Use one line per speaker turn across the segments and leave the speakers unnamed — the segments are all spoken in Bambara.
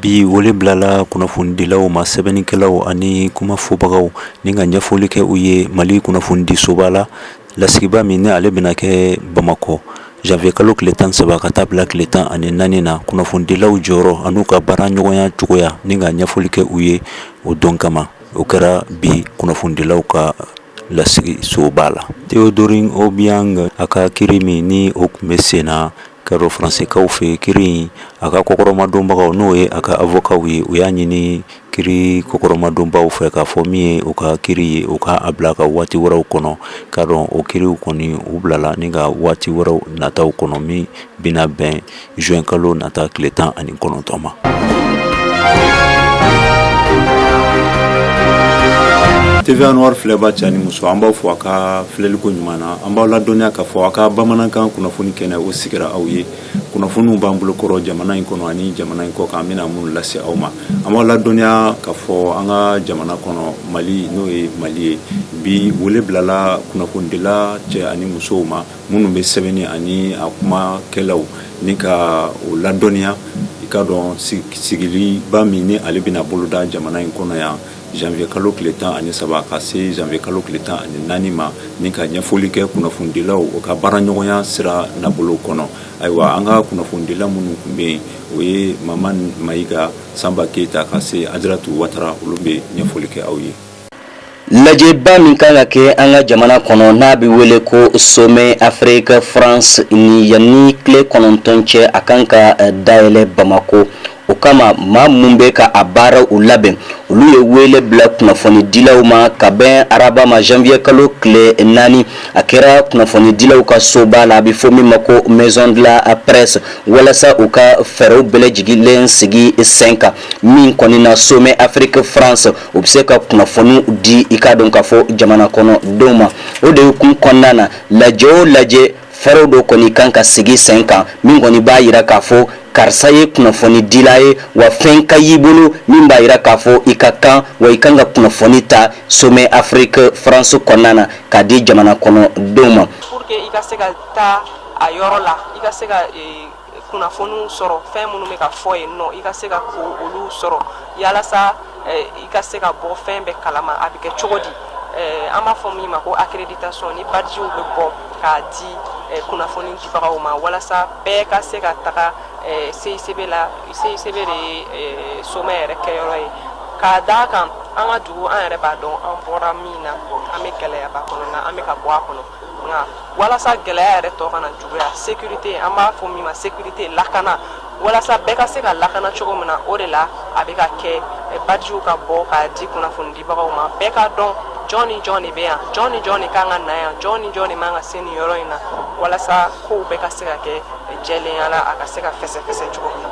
Bi wele bilala kunnafonidilaw ma sɛbɛnnikɛlaw ani kuma fɔbagaw ni ka ɲɛfɔli kɛ u ye Mali kunnafonidisoba la lasigiba min ni ale bɛna kɛ Bamakɔ janvier kalo tile 13 ka taa bila tile 14 na kunnafonidilaw jɔyɔrɔ an'u ka baara ɲɔgɔnya cogoya ni ka ɲɛfɔli kɛ u ye o don kama o kɛra bi kunnafonidilaw ka lasigi soba la Théodorin Obiang a ka kiri min ni o tun bɛ sen na ka dɔn faransekaw fɛ kiri in a ka kɔkɔrɔmadonbagaw n'o ye a ka avokaw ye u y'a ɲini kiri kɔkɔrɔmadonbaw fɛ k'a fɔ min ye u ka kiri ye u k'a bila ka waati wɛrɛw kɔnɔ ka dɔn o kiriw kɔni u bilala ni ka waati wɛrɛw nataw kɔnɔ min bɛna bɛn Juin kalo nata tile 19 ma. TV Anwar filɛba cɛ ni muso an b'aw fo a ka filɛliko ɲuman na an b'aw ladɔnniya k'a fɔ a ka bamanankan kunnafoni kɛnɛ o sigira aw ye kunnafoniw b'an bolokɔrɔ jamana in kɔnɔ ani jamana in kɔ kan an bɛna minnu lase aw ma an b'aw ladɔnniya k'a fɔ an ka jamana kɔnɔ mali n'o ye mali ye bi wele bilala kunnafonidila cɛ ani musow ma minnu bɛ sɛbɛnni ani a kumakɛlaw ni ka o ladɔnniya i ka dɔn sigiliba min ni ale bɛna boloda jamana in kɔnɔ yan janvier kalo tile tan ani saba ka se janvier kalo tile tan ani naani ma ni ka ɲɛfɔli kɛ kunnafonidilaw o ka baaraɲɔgɔnya sira nabolo kɔnɔ ayiwa an ka kunnafonidila minnu tun bɛ yen o ye Mamani Mayiga Sanba Keyita ka se Ajaratu Watara olu bɛ ɲɛfɔli kɛ aw ye.
lajɛba min kan ka kɛ an ka jamana kɔnɔ n'a bɛ wele ko somɛ afiriki france ni yanni tile kɔnɔntɔn cɛ a kan ka eh, dayɛlɛ bamakɔ o kama maa minnu bɛ ka a baaraw labɛn olu ye wele bila kunnafonidilaw ma ka bɛn araba ma janvier kalo tile naani a kɛra kunnafonidilaw ka soba la a bɛ fɔ min ma ko maison de la presse walasa u ka fɛɛrɛw bɛɛ lajɛlen sigi sen kan min kɔni na somɛ afiriki france u bɛ se ka kunnafoniw di i ka dɔn k'a fɔ jamana kɔnɔ denw ma o de ye kun kɔnɔna na lajɛ o lajɛ fɛɛrɛ dɔ kɔni kan ka sigi sen kan min kɔni b'a jira k'a fɔ karisa ye kunnafonidila ye wa fɛn ka y'i bolo min b'a jira k'a fɔ i ka kan wa i kan ka kunnafoni ta somɛ afiriki france kɔnɔna na k'a di jamana kɔnɔ denw ma pour que i ka se ka
taa a yɔrɔ la i ka se ka ee kunnafoniw sɔrɔ fɛn minnu bɛ ka fɔ yen nɔ i ka se ka ko olu sɔrɔ yalasa eh, i ka se ka bɔ fɛn bɛɛ kalama a bɛ kɛ cogo di eh, an b'a fɔ min ma ko accréditation ni bajiw bɛ bɔ k'a di eh, kunnafoni dibagaw ma walasa bɛɛ ka se ka taga CICB la CICB de ye somɛ yɛrɛ kɛyɔrɔ ye k'a d'a kan an ka dugu an yɛrɛ b'a dɔn an bɔra min na an bɛ gɛlɛyaba kɔnɔ na an bɛ ka bɔ a kɔnɔ walasa gɛlɛya yɛrɛ tɔ kana juguya sécurité an b'a fɔ min ma sécurité lakana walasa bɛɛ ka se ka lakana cogo min na o de la a bɛ ka kɛ badgew ka bɔ k'a di kunnafonidibagaw ma bɛɛ k'a dɔn jɔn ni jɔn de bɛ yan jɔn ni jɔn de kan ka na yan jɔn ni jɔn de man ka se nin yɔrɔ in na walasa kow bɛɛ ka se ka kɛ jɛlenya la a ka se ka fɛsɛfɛsɛ cogo min na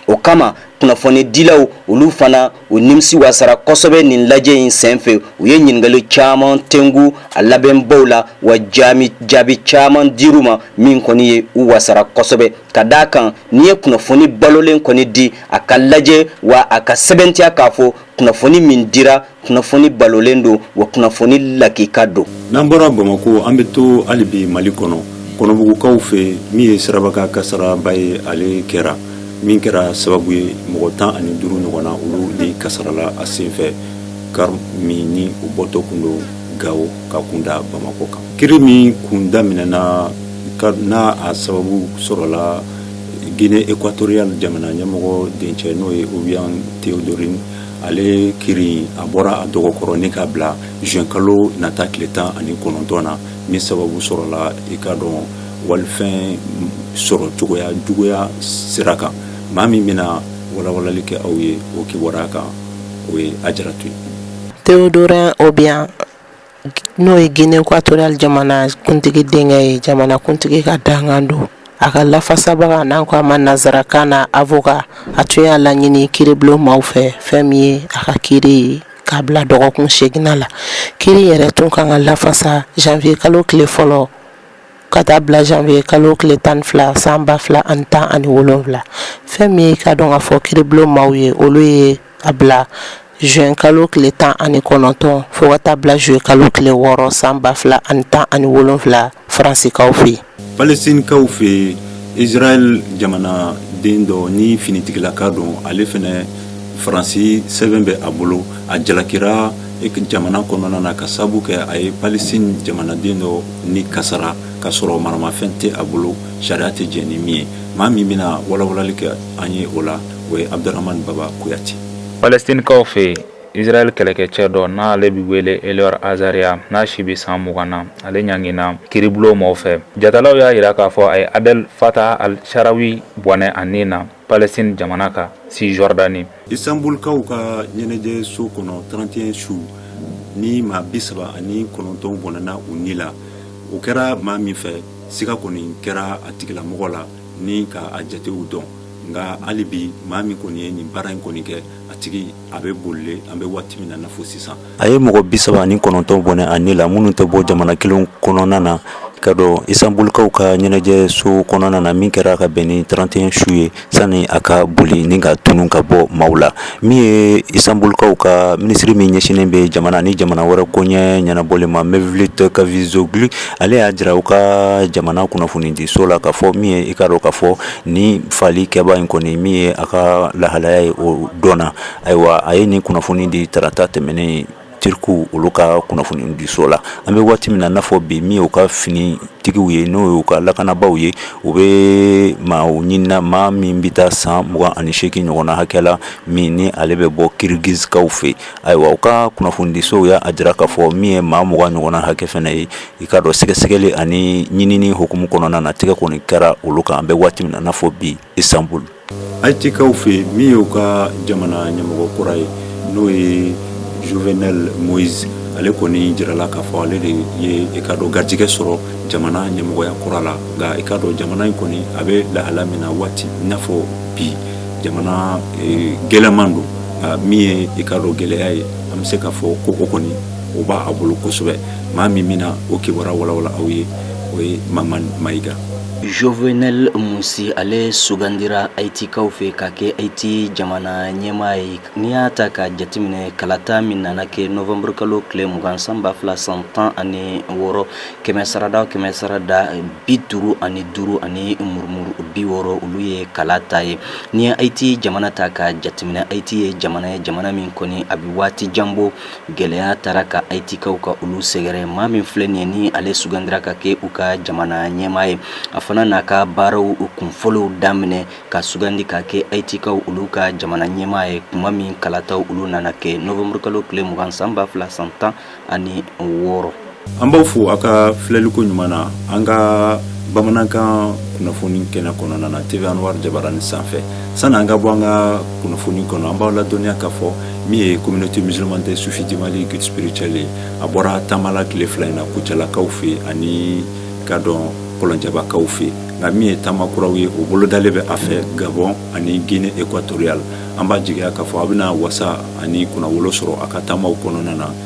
o kama
kunnafonidilaw olu fana u nimisi wasara kosɛbɛ nin lajɛ in senfɛ u ye ɲininkali caman tengu a labɛnbaw la wa jaabi jaabi caman dir'u ma min kɔni ye u wasara kosɛbɛ ka d'a kan n'i ye kunnafoni balolen kɔni di a ka lajɛ wa a ka sɛbɛntiya k'a fɔ kunnafoni min dira kunnafoni balolen don wa kunnafoni lakika don n'an bɔra
bamakɔ an bɛ to hali bi mali kɔnɔ kɔnɔbugukaw fɛ min ye sirabakan kasaraba ye ale kɛra min kɛra sababu ye mɔgɔ tan ani duuru ɲɔgɔn na olu de kasarala a senfɛ kari min ni u bɔtɔ kun don gawo k'a kunda bamakɔ kan kiri min kun daminɛna n'a a sababu sɔrɔla Guinée équatoriale jamana ɲɛmɔgɔ dencɛ n'o ye Obiang Théodorin ale kiri a bɔra a dɔgɔkɔrɔ ni k'a bila juin kalo nata tile tan ani kɔnɔntɔn na min sababu sɔrɔla i k'a dɔn walifɛn sɔrɔ cogoya juguya sira kan maa min bɛna walawalali kɛ aw ye o kibaruya kan o ye Ajaratu ye Théodorin
Obiang N'o ye Guinée équatoriale jamanakuntigi denkɛ ye jamanakuntigi ka dankan don a ka lafasabaa n'an ko a ma nanzarakan na avocat a tun y'a laɲini kiiribulon maaw fɛ fɛn min ye a ka kiiri ye k'a bila dɔgɔkun segin na kiiri yɛrɛ tun kan ka lafasa janvier kalo tile fɔlɔ ka taa bila janvier kalo tile tan ni fila san ba fila ani tan ani wolowula fɛn min ye k'a dɔn k'a fɔ kiiribulon maaw ye olu ye A bila juin kalo tile tan ani kɔnɔntɔn fo ka taa bila juillet kalo tile wɔɔrɔ san ba fila ani tan
ani
wolonwula faransikaw fɛ yen
palɛstinikaw
fɛ yen
israɛl jamana den dɔ ni finitigilaka don ale fana faransi sɛbɛn bɛ a bolo a jalakira jamana kɔnɔna na k'a sabu kɛ a ye palɛstini jamanaden dɔ ni kasara k'a sɔrɔ maramafɛn tɛ a bolo sariya tɛ jɛn ni min ye maa min bɛna walawalali kɛ an ye o la o ye abudurahamani baba kuyate
palɛstinikaw fɛ yen israɛl kɛlɛkɛcɛ dɔ n'ale bɛ wele elor azaria n'a si bɛ san mugan na ale ɲangina kiribulon mɔw fɛ jatalaw y'a jira k'a fɔ a ye adɛl fata al sharawi bɔnɛ a nin na palestine jamana kan cisjordanie
istanbulkaw ka ɲɛnajɛ so kɔnɔ 31 su ni maa bi saba ani kɔnɔntɔn bɔnɛna u ni la o kɛra maa min fɛ siga kɔni kɛra a tigilamɔgɔ la ni k'a jatew dɔn nka hali bi maa min kɔni ye nin baara in kɔni kɛ a tigi a bɛ bolilen an bɛ waati min na n'a fɔ sisan a ye mɔgɔ bi saba ni kɔnɔntɔn bɔnɛ a ni la minnu tɛ bɔ jamana kelen kɔnɔna na ka dɔn istanbulkaw ka ɲɛnajɛ so kɔnɔna na min kɛra ka bɛn ni trente et un su ye sani a ka boli ni ka tunun ka bɔ maaw la min ye istanbulkaw ka minisiri min ɲɛsinnen bɛ jamana ni jamana wɛrɛ koɲɛ ɲɛnabɔli ma Mevlut Cavusoglu ale y'a jira u ka jamana kunnafonidiso la k'a fɔ min ye i k'a dɔn k'a fɔ Nin faali kɛbaa in kɔni min ye a ka lahalaya ye o dɔnna ayiwa a ye nin kunnafoni di tarata tɛmɛnen turku olu ka kunnafoni diso la an bɛ waati min na n'a fɔ bi min ye u ka finitigiww ye n'o y'u ka lakanabaaw ye u bɛ maa ɲini na maa min bɛ taa san mugan ani segin ɲɔgɔnna hakɛ la min ni ale bɛ bɔ kirgizikaw fɛ ayiwa u ka kunnafonidisow y'a jira k'a fɔ min ye maa mugan ɲɔgɔnna hakɛ fɛnɛ ye i k'a dɔn sɛgɛsɛgɛli ani ɲinini hukumu kɔnɔna na tɛgɛ kɔni kɛra olu kan an bɛ waati min na n'a fɔ bi istanbul ayitikaw fɛ min y'u ka jamana ɲɛmɔgɔ kura ye n'o ye jovenel moïse ale kɔni jirala k'a fɔ ale de ye i ka dɔn garijɛgɛ sɔrɔ jamana ɲɛmɔgɔya kura la nka i ka dɔn jamana in kɔni a bɛ lahala min na waati i n'a fɔ bi jamana eh, gɛlɛman don nka min ye i ka dɔn gɛlɛya ye an bɛ se k'a fɔ ko o kɔni o b'a bolo kosɛbɛ maa min bɛna o kibaruya walawala aw ye o ye mamani mayiga
Jovenel Moïse ale sugandira Ayitikaw fɛ ka kɛ Ayiti jamana ɲɛmaa ye n'i y'a ta ka jateminɛ kalata min nana kɛ novembre kalo tile mugan san ba fila san tan ani wɔɔrɔ kɛmɛ sarada kɛmɛ sarada bi duuru ani duuru ani murumuru bi wɔɔrɔ olu ye kalata ye n'i ye Ayiti jamana ta ka jateminɛ Ayiti ye jamana ye jamana min kɔni a bɛ waati jan bɔ Gɛlɛya taara ka Ayitikaw ka olu sɛgɛrɛ, maa min filɛ nin ye ni ale sugandira ka kɛ u ka jamana ɲɛmaa ye, a fana n'a ka baaraw kunfɔlɔw daminɛ ka sugandi ka kɛ Ayitikaw olu ka jamana ɲɛmaa ye, kuma min kalataw olu nana kɛ novembre kalo tile 20 san 2000 san 16. an b'aw fo a
ka filɛliko ɲuman na an ka bamanankan kunnafoni kɛnɛ kɔnɔna na tv anwar jabarani sanfɛ sani an ka bɔ an ka kunnafoni kɔnɔ an b'aw ladɔnniya k'a fɔ min ye communauté musulmane des soufis du mali guide spirituel ye a bɔra taama la tile fila in na kucalakaw fɛ ani ka dɔn kɔlɔnjabakaw fɛ nka min ye taama kuraw ye o bolodalen bɛ a fɛ gabon ani guinée équatoriale an b'a jigiya k'a fɔ a bɛna wasa ani kunnawolo sɔrɔ a ka taamaw kɔnɔna na